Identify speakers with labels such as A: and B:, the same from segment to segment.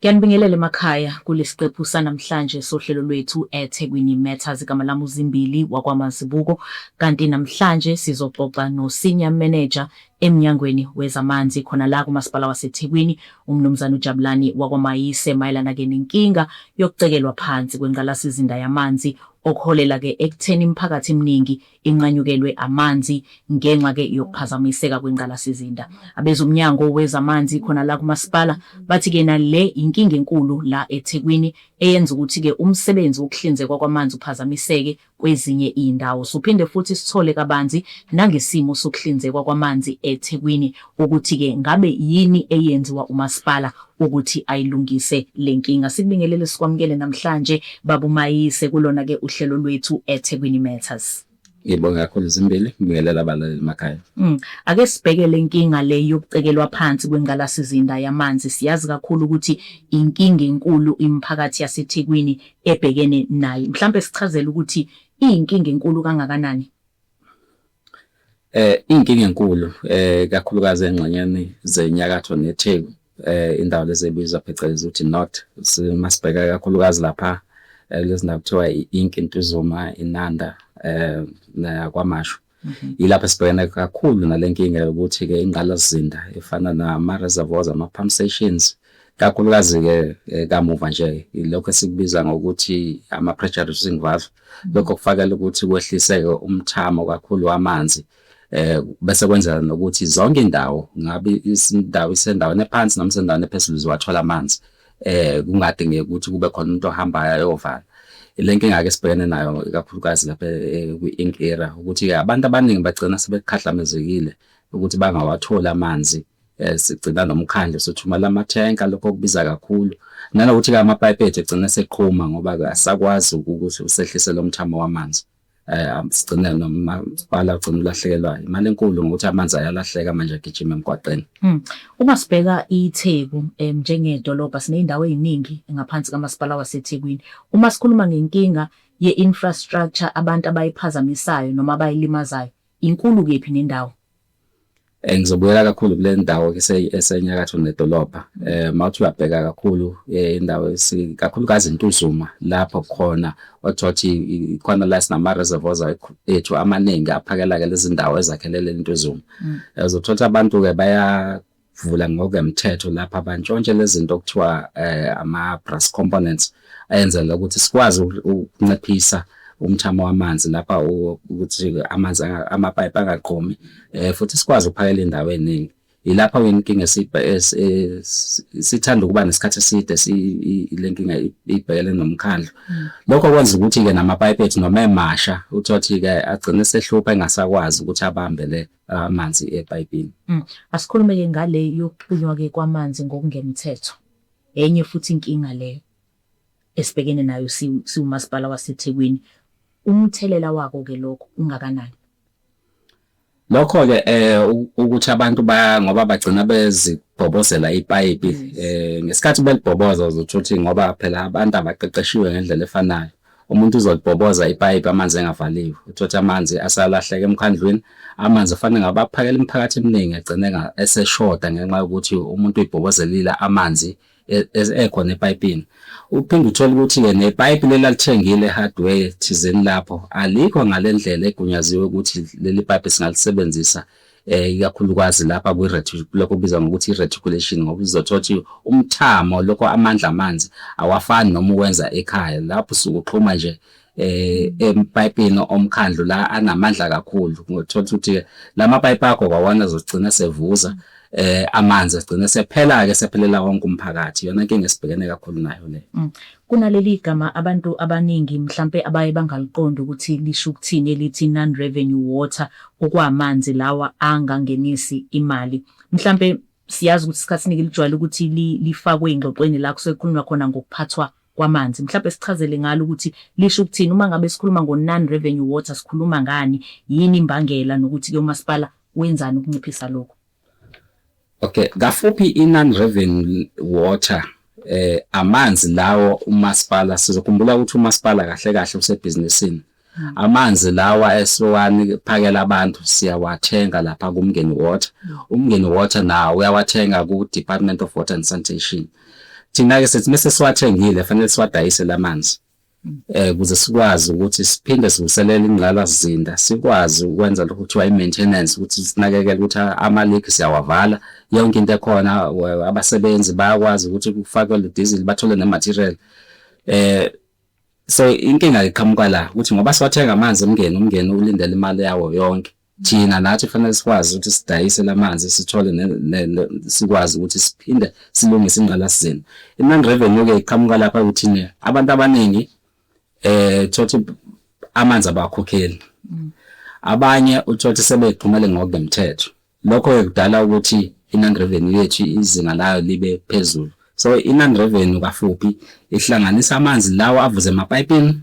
A: Ngiyanibingelela emakhaya kulesiqephu sanamhlanje sohlelo lwethu eThekwini Matters igama lami uZimbili wakwaMazibuko kanti namhlanje sizoxoxa no Senior Manager emnyangweni wezamanzi khona la kuMasipala waseThekwini uMnumzane uJabulani wakwaMayise mayelana ke nenkinga yokucekelwa phansi kwengqalasizinda yamanzi okuholela ke ekutheni imiphakathi eminingi inqanyukelwe amanzi ngenxa ke yokuphazamiseka kwengqalasizinda. AbezoMnyango wezaManzi khona la kuMasipala bathi ke nale yinkinga enkulu la eThekwini eyenza ukuthi ke umsebenzi wokuhlinzekwa kwamanzi uphazamiseke kwezinye iyndawo. Sophinde futhi sithole kabanzi nangesimo sokuhlinzekwa kwamanzi eThekwini ukuthi-ke ngabe yini eyenziwa umasipala ukuthi ayilungise le nkinga. Sikubingelele sikwamukele namhlanje Baba uMayise kulona-ke uhlelo lwethu eThekwini Matters. Ngibonge kakhulu
B: zimbili ngibingelela abalaleli emakhaya. Mm. Ake sibheke
A: le nkinga le yokucekelwa phansi kwengqalasizinda yamanzi. Siyazi kakhulu ukuthi inkinga enkulu imiphakathi yaseThekwini ebhekene nayo. Mhlampe sichazele ukuthi iyinkinga enkulu kangakanani?
B: Eh inkinga enkulu eh kakhulukazi engxenyeni zenyakatho neTheku eh indawo lezi ebizwa phecelezi ukuthi not simasibheka kakhulukazi lapha eh, lezi ndawo kuthiwa i-ink intuzuma inanda eh nakwamashu mhm. yilapho esibhekene kakhulu nalenkinga yokuthi ke ingqalasizinda efana nama reservoirs ama pump stations kakhulukazi-ke eh, kamuva nje ilokhu esikubiza ngokuthi ama-pressure reducing valve lokho kufakela ukuthi kwehliseke umthamo kakhulu wamanzi eh bese kwenzela nokuthi zonke indawo ngabe isindawo isendaweni ephansi noma isendaweni ephezulu ziwathola amanzi eh kungadingeki ukuthi kube khona umuntu ohambayo ayovala le nkinga ke sibhekene nayo ikakhulukazi lapha eh, kwi-ink era ukuthi-ke abantu abaningi bagcina sebekhahlamezekile ukuthi bangawatholi amanzi Eh, sigcina nomkhandlu sothumela amathenka lokho kubiza kakhulu nanokuthi ke amapayipi ethu egcine seqhuma ngoba asakwazi ukuthi usehlise lo mthamo wamanzi um sigcine nomasipala ugcina ulahlekelwa imali enkulu ngokuthi amanzi ayalahleka manje agijima emgwaqeni hmm. uma sibheka
A: itheku um njengedolobha siney'ndawo ey'ningi ngaphansi kamasipala wasethekwini uma sikhuluma ngenkinga ye-infrastructure abantu abayiphazamisayo noma abayilimazayo inkulu kephi nendawo Eh,
B: ngizobuyela kakhulu kule ndawo esenyakatho nedolobha um eh, mawuthi uyabheka kakhulu eh, indawo kakhulukazi intuzuma lapho khona okuthiwa ukuthi khona la sinama-reservoirs ethu amaningi aphakela-ke lezi ndawo ezakhelele intuzuma mm. uzothola ukuthi abantu-ke vula ngokwemthetho lapha bantshontshe lezinto okuthiwa eh, ama brass components ayenzela ukuthi sikwazi ukunciphisa umthamo wamanzi lapha ukuthi amanzi amapipe angaqomi eh, futhi sikwazi ukuphakela indawo eningi yilapha inkinga sithanda ukuba nesikhathi eside le nkinga ibhekele nomkhandlu hmm. lokho kwenza ukuthi-ke namapayipi ethu noma emasha uthothi-ke agcine sehlupha engasakwazi ukuthi abambe le amanzi epayipini. Mm. Asikhulume-ke
A: ngale yokuxunywa-ke kwamanzi ngokungemthetho. Enye futhi inkinga leyo esibhekene nayo siwumasipala waseThekwini. Umthelela wako-ke lokho ungakanani? Lokho-ke
B: eh ukuthi abantu ba ngoba bagcina bezibhobozela ipayipi eh ngesikhathi belibhoboza uzothi ngoba phela abantu abaqeqeshiwe ngendlela efanayo Umuntu uzolibhoboza ipayipi amanzi engavaliwe, uthothe amanzi asalahleka emkhandlwini. Amanzi kufanele ngabe aphakela imiphakathi eminingi egcine eseshoda ngenxa yokuthi umuntu uyibhobozelile amanzi e, e, ekhona epayipini. Uphinde uthole ukuthi-ke nepayipi leli alithengile hardware thizeni lapho alikho ngale ndlela egunyaziwe ukuthi leli payipi singalisebenzisa eh ikakhulukazi lapha kwi lokho kubizwa ngokuthi reticulation ngoba uzothola ukuthi umthamo lokho amandla amanzi awafani noma uwenza ekhaya lapho usuke uxhuma nje eh empayipini omkhandlu la anamandla kakhulu ngothola ukuthi lama pipe akho kwawana zogcina sevuza mm. eh amanzi agcine sephela ke sephelela wonke umphakathi yona inkinga esibhekene kakhulu nayo le mm. Kunaleli gama
A: abantu abaningi mhlampe abaye bangaliqondi ukuthi lisho ukuthini elithi non-revenue water, okwamanzi lawa angangenisi imali. Mhlampe siyazi ukuthi isikhathi esiningi lijwayele ukuthi lifakwe ey'ngxoxweni la kusuke kukhulunywa khona ngokuphathwa kwamanzi. Mhlampe sichazele ngalo ukuthi lisho ukuthini, uma ngabe sikhuluma ngo-non-revenue water sikhuluma ngani, yini imbangela nokuthi-ke umasipala wenzani ukunciphisa lokhu.
B: Okay, kafuphi iNan Revenue Water eh amanzi lawo umasipala sizokhumbula ukuthi umasipala kahle kahle usebhizinisini hmm. amanzi lawa esiwani phakela abantu siyawathenga lapha kumngeni water hmm. umngeni water nawo uyawathenga ku Department of Water and Sanitation thina ke sithi mase siwathengile fanele siwadayise lamanzi eh kuze sikwazi ukuthi siphinde silungiselele ingqalasizinda sikwazi ukwenza lokho kuthiwa i-maintenance ukuthi sinakekele ukuthi ama-league siyawavala yonke into ekhona abasebenzi bayakwazi ukuthi kufakwe le diesel bathole ne-material eh so inkinga iqhamuka la ukuthi ngoba siwathenga amanzi omngeni umngeni ulindele imali yawo yonke thina nathi fanele sikwazi ukuthi sidayise lamanzi sithole sikwazi ukuthi siphinde silungise ingqalasizinda i-non revenue ke iqhamuka lapha ukuthi abantu abaningi eh thothi amanzi abakhokheli mm. abanye uthothi sebexhumele ngokungemthetho lokho kudala ukuthi i-non revenue yethu izinga layo libe phezulu so i-non revenue kafuphi ihlanganisa amanzi lawo avuze emapayipini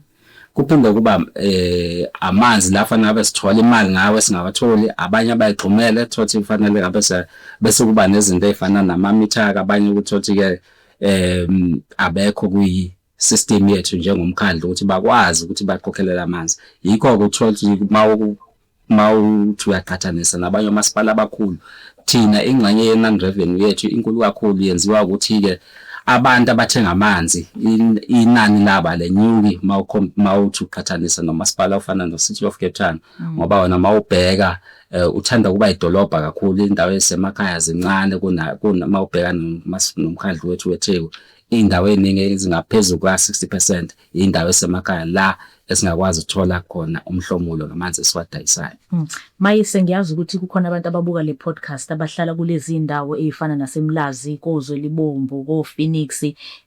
B: kuphinde ukuba eh amanzi la fanele ngabe sithola imali ngawe singawatholi abanye abayigxumele thothi kufanele ngabe bese kuba nezinto ezifana nama meter abanye ukuthothi ke eh abekho kuyi system yethu njengomkhandlu ukuthi bakwazi ukuthi baqoqelele amanzi yikho ukuthola ukuthi mawu uma uthi uyaqhathanisa nabanye omasipala abakhulu thina ingxenye ye-non revenue yethu inkulu kakhulu yenziwa ukuthi-ke abantu abathenga amanzi inani laba lenyuki mawuthi uqhathanisa nomasipala ofana no-City of Cape Town mm. ngoba wena mawubheka eh, uthanda ukuba idolobha kakhulu indawo ezisemakhaya zincane kuna mawubheka nomkhandlu wethu weTheku indawo eningi ezingaphezulu kwa-60% indawo esemakhaya la esingakwazi ukuthola khona umhlomulo ngamanzi esiwadayisayo. Hmm. Mayise
A: ngiyazi ukuthi kukhona abantu ababuka le podcast abahlala kulezi ndawo ezifana naseMlazi, koZwe libomvu, koPhoenix,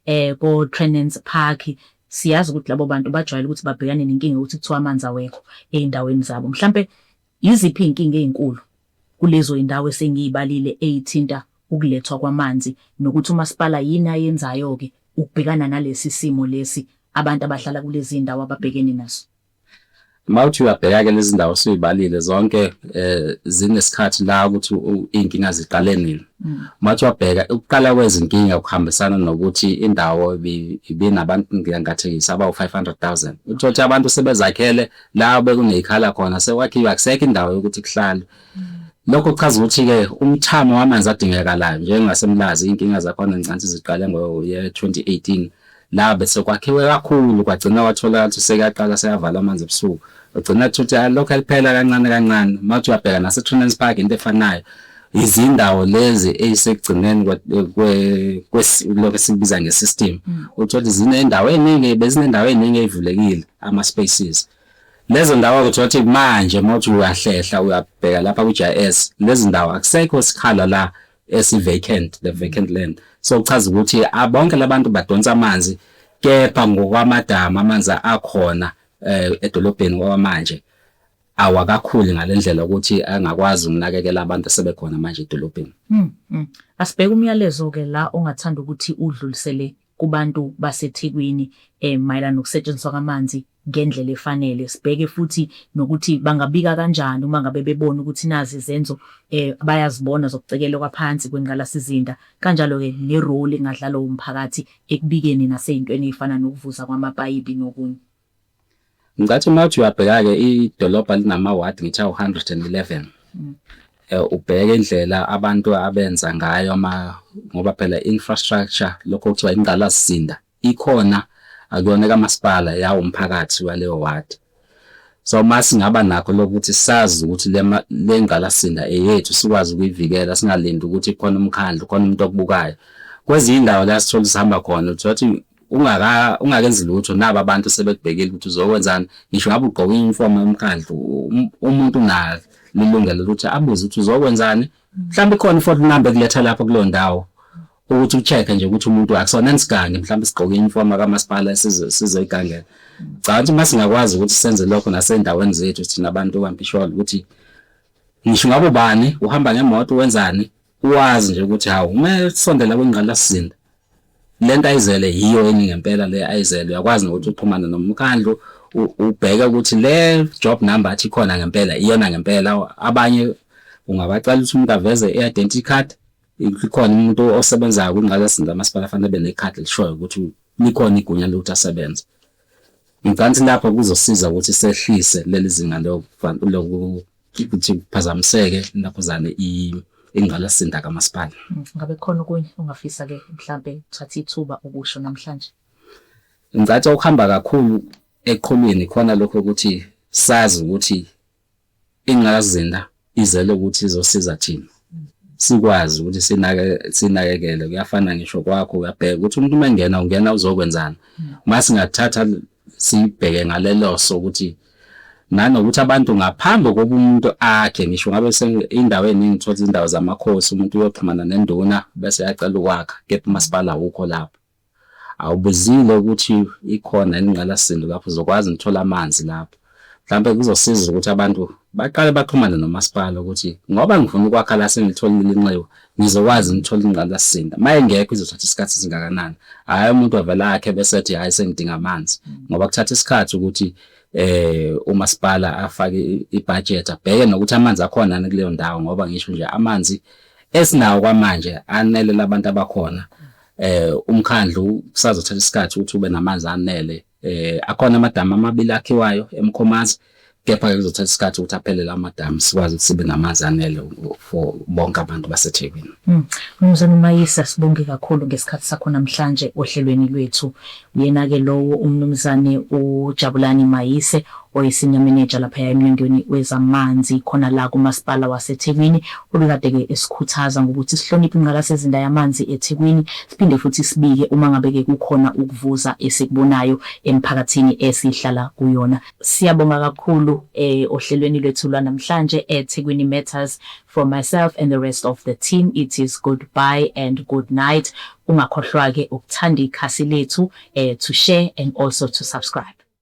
A: eh koTrenance Park siyazi ukuthi labo bantu bajwayele ukuthi babhekane nenkinga ukuthi kuthiwa amanzi awekho ezindaweni zabo. Mhlambe Yiziphi izinkinga ezinkulu kulezo zindawo esengizibalile ezithinta ukulethwa kwamanzi nokuthi umasipala yini ayenzayo-ke ukubhekana nalesi simo lesi abantu abahlala kulezi zindawo ababhekene naso? Uma
B: uthi uyabheka-ke lezi zindawo osuzibalile zonke zinesikhathi la ukuthi izinkinga ziqale nini. Uma uthi uyabheka ukuqala kwezinkinga kuhambisana nokuthi indawo ibinabantu ngingathekisa abawu-500,000. Uthole ukuthi abantu sebezakhele la bekuneyikhala khona sekwakhiwe akusekho indawo yokuthi kuhlale lokho kuchaza ukuthi-ke umthamo wamanzi adingekalayo njengasemlazi iy'nkinga zakhona ngicantsi ziqale ngoye-2018 la bese kwakhiwe kakhulu kwagcina wathola ukuthi sekuyaqala seyavala amanzi ebusuku ugcina ukuthi lokho eliphela kancane kancane uma uthi uyabheka nasetrunens park into efanayo izindawo lezi ey'sekugcineni lokhu esikubiza nge-system mm. uthole zinendawo eningi bezinendawo eningi ey'vulekile ama-spaces lezo ndawo kuthiwa ukuthi manje uma uthi uyahlehla uyabheka lapha ku-GIS lezi ndawo akusekho sikhala la esi-vacant the vacant land so kuchaza ukuthi bonke labantu badonsa amanzi kepha ngokwamadama amanzi akhona um edolobheni kwamanje awakakhuli ngalendlela ukuthi angakwazi ukunakekela abantu asebekhona manje edolobheni. Mm, mm. Asibheke
A: umyalezo ke la ongathanda ukuthi udlulisele kubantu baseThekwini eh mayelana nokusetshenziswa kwamanzi ngendlela efanele. Sibheke futhi nokuthi bangabika kanjani uma ngabe bebona ukuthi nazi izenzo eh bayazibona zokucekelwa kwaphansi kwengqalasizinda kanjalo ke ne role engadlalwa umphakathi ekubikeni nasezintweni ezifana nokuvuza kwamapayipi nokunye.
B: Ngicathi uma uthi uyabheka-ke idolobha linamawadi ngithi awu-111 mm. eh, ubheke indlela abantu abenza ngayo ama ngoba phela infrastructure lokho kuthiwa ingqalasizinda ikhona akuyona kamasipala yawo umphakathi waleyo wadi so uma singaba nakho lokuthi sazi ukuthi le ngqalasizinda eyethu sikwazi ukuyivikela singalindi ukuthi khona umkhandlu khona umuntu okubukayo kwezinye indawo la sithola sihamba khona uthi ungaka ungakenzi lutho nabo abantu sebekubhekile ukuthi uzokwenzani ngisho ngabe ugqoka uniform yomkhandlu um, umuntu unalo lilungelo ukuthi abuze ukuthi uzokwenzani mhlawumbe ikhona ifoto number ekuletha lapho kuleyo ndawo ukuthi ucheck-e nje ukuthi umuntu akusona nisigange mhlawumbe sigqoke uniform kamasipala sizoyigangela cha ukuthi uma singakwazi ukuthi senze lokho nasendaweni zethu thina abantu kampisholo ukuthi ngisho ngabe ubani uhamba ngemoto wenzani Uwazi nje ukuthi hawu uma esondela kwingqalasizinda le nto ayizele yiyo eningi ngempela le ayizele uyakwazi nokuthi uxhumane nomkhandlu ubheke ukuthi le job number athi khona ngempela iyona ngempela abanye ungabacela ukuthi umuntu aveze i-identity card ikhona umuntu osebenzayo kwingqalasizinda amasipala afanele abe nekhadi elishoyo ukuthi likhona igunya lokuthi asebenze ngicabanga ukuthi lapho kuzosiza ukuthi sehlise leli zinga ukuthi kuphazamiseke intaphuzane ingqalasizinda kamasipala. Mm, ngabe khona okunye
A: ongafisa ke mhlambe thatha ithuba ukusho namhlanje? Ngicatha
B: ukuhamba kakhulu eqhulwini khona lokho ukuthi sazi ukuthi ingqalasizinda izele ukuthi izosiza thina sikwazi ukuthi sinake sinakekele kuyafana ngisho kwakho uyabheka ukuthi umuntu uma engena ungena uzokwenzani uma mm. singathatha sibheke ngaleloso ukuthi nanokuthi abantu ngaphambi kokuba umuntu akhe ngisho ngabe indawo eningi uthola izindawo zamakhosi umuntu uyoxhumana nenduna bese yacela ukwakha kepha umasipala awukho lapho awubizile ukuthi ikhona ingqalasizinda lapho uzokwazi ngithola amanzi lapho Mhlawumbe kuzosiza ukuthi abantu baqale baxhumane nomasipala ukuthi ngoba ngifuna ukwakha la sengilitholile inxiwa ngizokwazi ngithole ingqalasizinda uma engekho izothatha isikhathi esingakanani hhayi umuntu avele akhe bese ethi hhayi sengidinga amanzi ngoba kuthatha isikhathi ukuthi eh umasipala afake ibudget abheke nokuthi amanzi akhona yini kuleyo ndawo ngoba ngisho nje amanzi esinawo kwamanje anele labantu abakhona eh umkhandlu kusazothatha isikhathi ukuthi ube namanzi anele Eh akhona amadamu amabili akhiwayo eMkhomazi kepha ke kuzothatha isikhathi ukuthi aphele lawo madamu sikwazi ukuthi sibe namanzi anele for bonke abantu baseThekwini. Hmm. Mnumzane
A: Mayisa sibonge kakhulu ngesikhathi sakho namhlanje ohlelweni lwethu. Uyena ke lowo uMnumzane uJabulani Mayise Oyi-Senior Manager laphaya eMnyangweni wezaManzi khona la kuMasipala waseThekwini ubekade-ke esikhuthaza ngokuthi sihloniphe ingqalasizinda yamanzi eThekwini siphinde futhi sibike uma ngabe-ke kukhona ukuvuza esikubonayo emiphakathini esihlala kuyona. Siyabonga kakhulu ohlelweni lwethu lwanamhlanje eThekwini Matters, from myself and the rest of the team it is good bye and good night. Ungakhohlwa-ke ukuthanda ikhasi lethu, to share and also to subscribe.